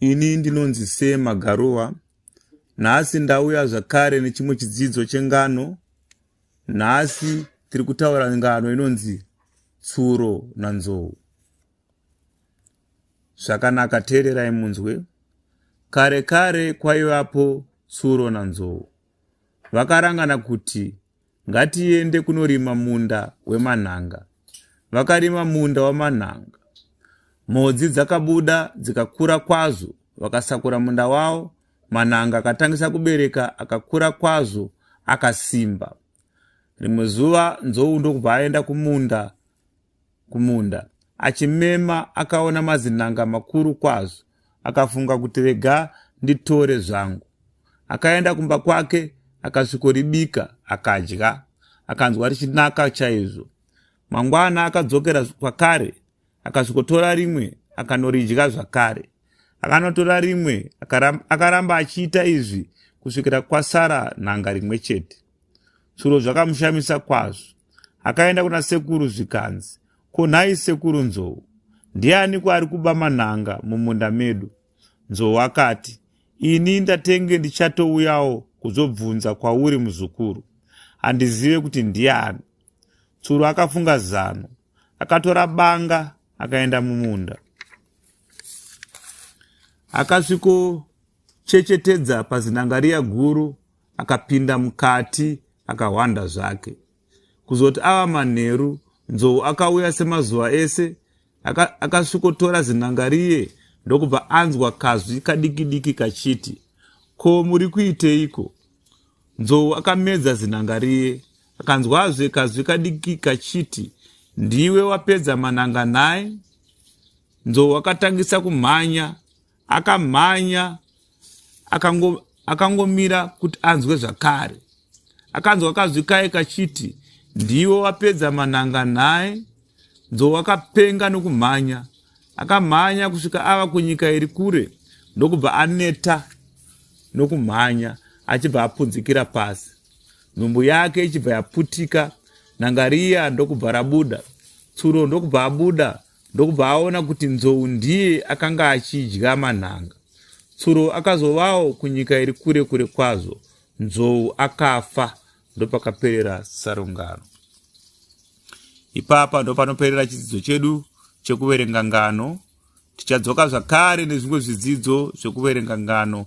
Ini ndinonzi Sir Magaruva. Nhasi ndauya zvakare nechimwe chidzidzo chengano. Nhasi tiri kutaura ngano inonzi tsuro nanzou. Zvakanaka teererai munzwe. Kare kare kwaivapo tsuro nanzou. Vakarangana kuti Ngatiende kunorima munda wemanhanga. Vakarima munda wamanhanga. Mhodzi dzakabuda dzikakura kwazvo. Vakasakura munda wavo. Manhanga akatangisa kubereka akakura kwazvo akasimba. Rimwe zuva nzou ndokubva aenda kumunda kumunda achimema akaona mazinanga makuru kwazvo akafunga kuti rega nditore zvangu akaenda kumba kwake akasvikoribika akadya akanzwa richinaka chaizvo mangwana akadzokera kwakare akasvikotora rimwe akanoridya zvakare akanotora rimwe akaramba achiita izvi kusvikira kwasara nhanga rimwe chete tsuro zvakamushamisa kwazvo akaenda kuna sekuru zvikanzi ko nhai sekuru nzou ndiani kwaari kuba manhanga mumunda medu nzou akati ini ndatenge ndichatouyawo kuzobvunza kwauri muzukuru handizive kuti ndiani tsuru akafunga zano akatora banga akaenda mumunda akasvikochechetedza pazinangariya guru akapinda mukati akahwanda zvake kuzoti ava manheru nzou akauya semazuva ese akasvikotora aka zinangariye ndokubva anzwa kazwi kadikidiki kachiti ko muri kuiteiko nzou akamedza zinangariye akanzwazve kazwi kadiki kachiti ndiwe wapedza mananga nhai nzou akatangisa kumhanya akamhanya akango, akangomira kuti anzwe zvakare akanzwa kazwi kaye kachiti ndiwe wapedza mananga nhai nzou akapenga nokumhanya akamhanya kusvika ava kunyika iri kure ndokubva aneta nokumhanya achibva apunzikira pasi nhumbu yake ichibva yaputika nangariya ndokubva rabuda tsuro ndokubva abuda ndokubva aona kuti nzou ndiye akanga achidya manhanga tsuro akazovawo kunyika iri kure kure kwazvo nzou akafa ndopakaperera sarungano ipapa ndopanoperera chidzidzo chedu chekuverenga ngano tichadzoka zvakare nezvimwe zvidzidzo zvekuverenga ngano